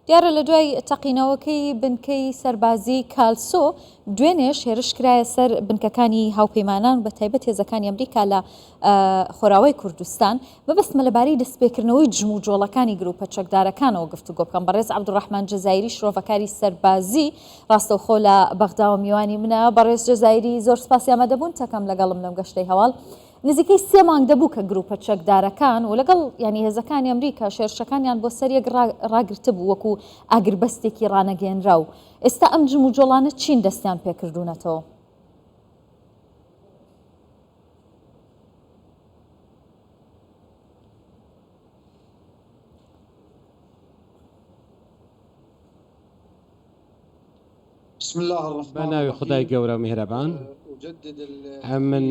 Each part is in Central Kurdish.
دیارە لە دوای تەقینەوەکەی بنکەی سەربازی کالسۆ دوێنێش هێرش کرایە سەر بنکەکانی هاوپەیمانان بە تایبەت هێزەکانی ئەمریکا لە خۆراوای کوردستان بەبستمە لەبارەی دەستپێکردنەوەی جم و جۆڵەکانی گروپە چەکدارەکانەوە گفتوگۆ بکەم بەڕێز عبدڕحمان جززایری شرۆڤەکاری سەربازی ڕاستەوخۆ لە بەغداوە میوانی منە بەڕێز جززایری زۆر سپاسی ئەمە دەبوون تەکەم لەگەڵم لەم گەشتەی هەواڵ نزیکەی سێ مانگ دەبوو کە گرووپە چەکدارەکان و لەگەڵ یانی هێزەکانی ئەمریکا شێرشەکانیان بۆ سەر یەک ڕاگرتبوو وەکو ئاگربەستێکی ڕانەگەیەنراو، ئێستا ئەم جموجۆڵانە چین دەستیان پێکردوونەتەوە؟ بە ناوی خودای گەورە میهرەبان من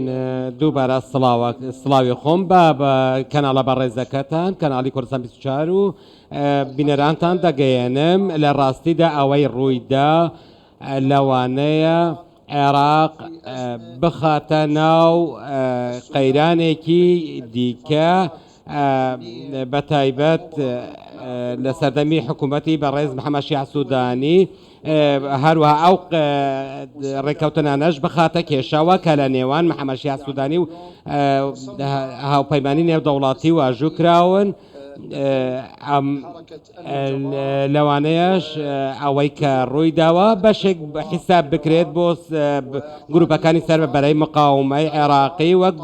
دووبارە سڵاوی خۆم بە بە کەناڵە بەڕێزەکەتان کەناڵی کوردستان 24 و بینەرانتان دەگەیەنم لە ڕاستیدا ئەوەی ڕوویدا لەوانەیە عێراق بخاتە ناو قەیرانێکی دیکە بەتایبەت لە سەردەمی حکوومەتی بەڕێز محەممەد شیاع سوودانی هەروە ئەو ڕێککەوتنانەش بخاتە کێشەوە کە لە نێوان محەممەد شیاع سوودانی و هاوپەیمانی نێودەوڵاتی واژوو کراون. لەوانەیەش ئەوەی کە ڕووی داوە بەشێک حیساب بکرێت بۆ گروپەکانی سەر بە بەرەی مقاومەی عێراقی وەک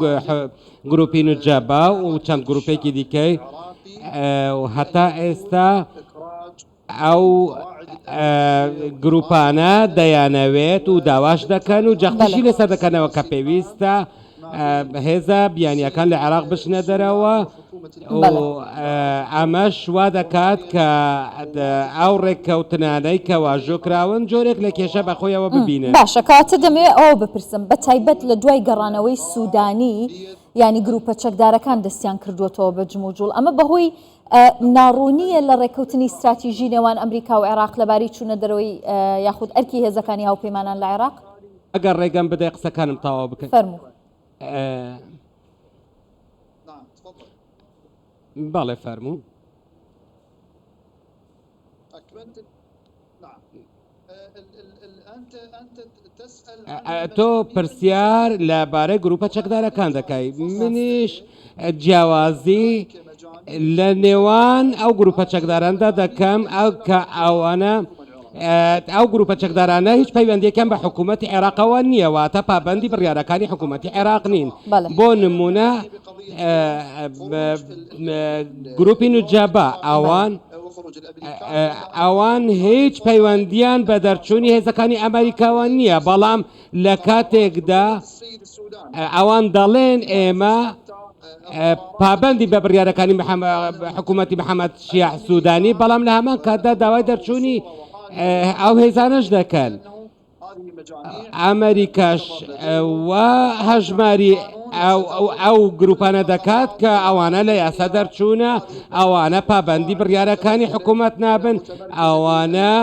گروپی نوجەبا و چەند گروپێکی دیکەی هەتا ئێستا ئەو گروپانە دەیانەوێت و داواش دەکەن و جەختیشی لەسەر دەکەنەوە کە پێویستە هێزە بیانیەکان لە عێراق بچنە دەرەوە ئەمەش وا دەکات کە ئەو ڕێککەوتنانەی کە واژۆ کراون جۆرێک لە کێشە بەخۆیەوە ببینن باشە کاتە دەمێ ئەو بپرسم بە تایبەت لە دوای گەڕانەوەی سوودانی ینی گروپە چەکدارەکان دەستیان کردووەتەوە بە جموجوڵ ئەمە بەهۆی ناڕوونییە لە ڕێککەوتنی ستراتیژی نێوان ئەمریکا و عێراق لەبارەی چوونە دەرەوەی یاخود ئەرکی هێزەکانی هاوپەیمانان لە عێراق. ئەگەر ڕێگەم بدەی قسەکانم تەواو بکەم. فەرموو. بەڵێ فەرموو. تۆ پرسیار لە بارەی گروپە چەکدارەکان دەکای منیش جیاوازی لە نێوان ئەو گروپە چەکداراندا دەکەم ئەو کە ئەوانە ئەو گروپە چەکدارانە هیچ پەیوەندیەکەم بە حکوومەتتی عێراقەوە نییەوە تا پابندی بڕیارەکانی حکوومەتتی عێراق نین بۆ نمونە گروپی نوجابا ئەوان ئەوان هیچ پەیوەندیان بە دەرچوونی هێزەکانی ئەمریکاوە نییە بەڵام لە کاتێکدا ئەوان دەڵێن ئێمە پابندی بە بڕیارەکانی حکوومەتتی محەممەد شیاح سوودانی بەڵام لە هەمان کاتدا داوای دەرچوونی ئەو هێزانش دەکەن. ئەمەریکاش وا هەژماری ئەو گروپانە دەکات کە ئەوانە لە یاسا دەرچوونە ئەوانە پابندی بڕیارەکانی حکوومەت نابن ئەوانە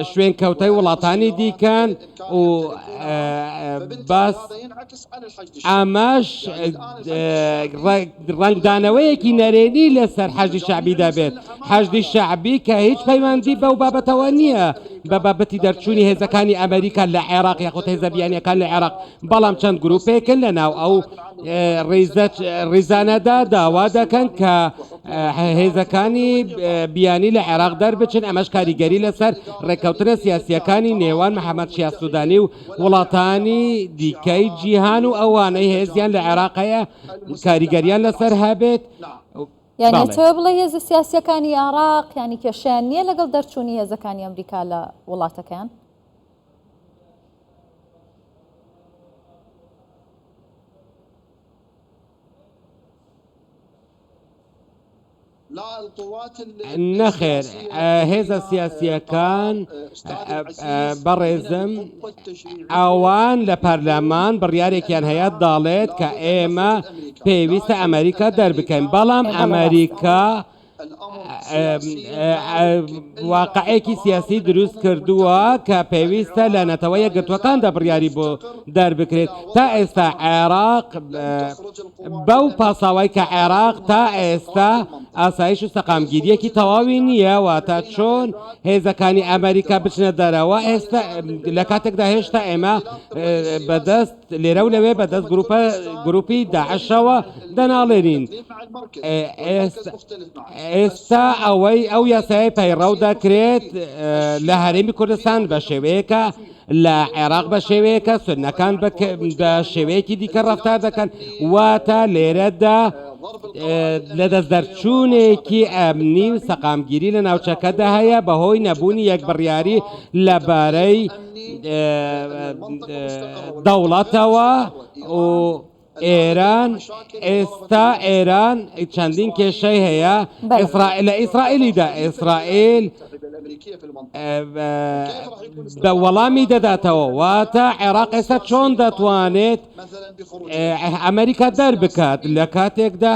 شوێن کەوتای وڵاتانی دیکەن و باس ئاماژ ڕەنگدانەوەیەکی نەرێنی لەسەر حەشدی شەعبی دەبێت، حەشدی شەعبی کە هیچ پەیوەندی بەو بابەتەوە نییە بە بابەتی دەرچوونی هێزەکانی ئەمریکا لە عێراق یاخود هێزە بیانییەکان لە عێراق، بەڵام چەند گروپێکن لە ناو ئەو ڕیزانەدا داوا دەکەن کە هێزەکانی بیانی لە عێراق دەربچن، ئەمەش کاریگەری لەسەر ڕێککەوتنە سیاسییەکانی نێوان محەمەد شیاع سودانی و وڵاتانی دیکەی جیهان و ئەوانەی هێزیان لە عێراق هەیە کاریگەریان لەسەر هەبێت یانێتەوە بڵێ هێزە سیاسەکانی عراق ینی کێشیان نییە لەگەڵ دەرچوونی هێزەکانی ئەمریکا لە وڵاتەکەیان نەخێر هێزە سیاسییەکان بەڕێزم ئەوان لە پەرلەمان بڕیارێکیان هەیە داڵێت کە ئێمە پێویستە ئەمریکا دەربکەین بەڵام ئەمریکا واقعێکی سیاسی دروست کردووە کە پێویستە لە نەتەوە یەکگرتووەکاندا بڕیاری بۆ دەربکرێت تا ئێستا عێراق بەو پاساوای کە عێراق تا ئێستا ئاسایش و سەقامگیریەکی تەواوی نییە واتە چۆن هێزەکانی ئەمریکا بچنە دەرەوە ئێستا لە کاتێکدا هێشتا ئێمە بەدەست لێرە و لەوێ بەدەست گروپە گروپی داعشەوە دەناڵێنین ئێستا ئەوەی ئەو یاسای پەیڕەو دەکرێت لە هەرێمی کوردستان بە شێوەیەکە لە عێراق بە شێوەیەکە سنەکان بە شێوەیەکی دیکە ڕفتار دەکەن واتە لێرەدا لە دەست دەرچوونێکی ئەمنی و سەقامگیری لە ناوچەکەدا هەیە بەهۆی نەبوونی یەک بڕیاری لەبارەی دەوڵەتەوە و ئێران ئێستا ئێران چەندین کێشەی هەیە لە ئیسرائیلیدا ئیسرائیل دە وەڵامی دەداتەوە واتە عێراق ئێستا چۆن دەتوانێت ئەمریکا دەربکات لە کاتێکدا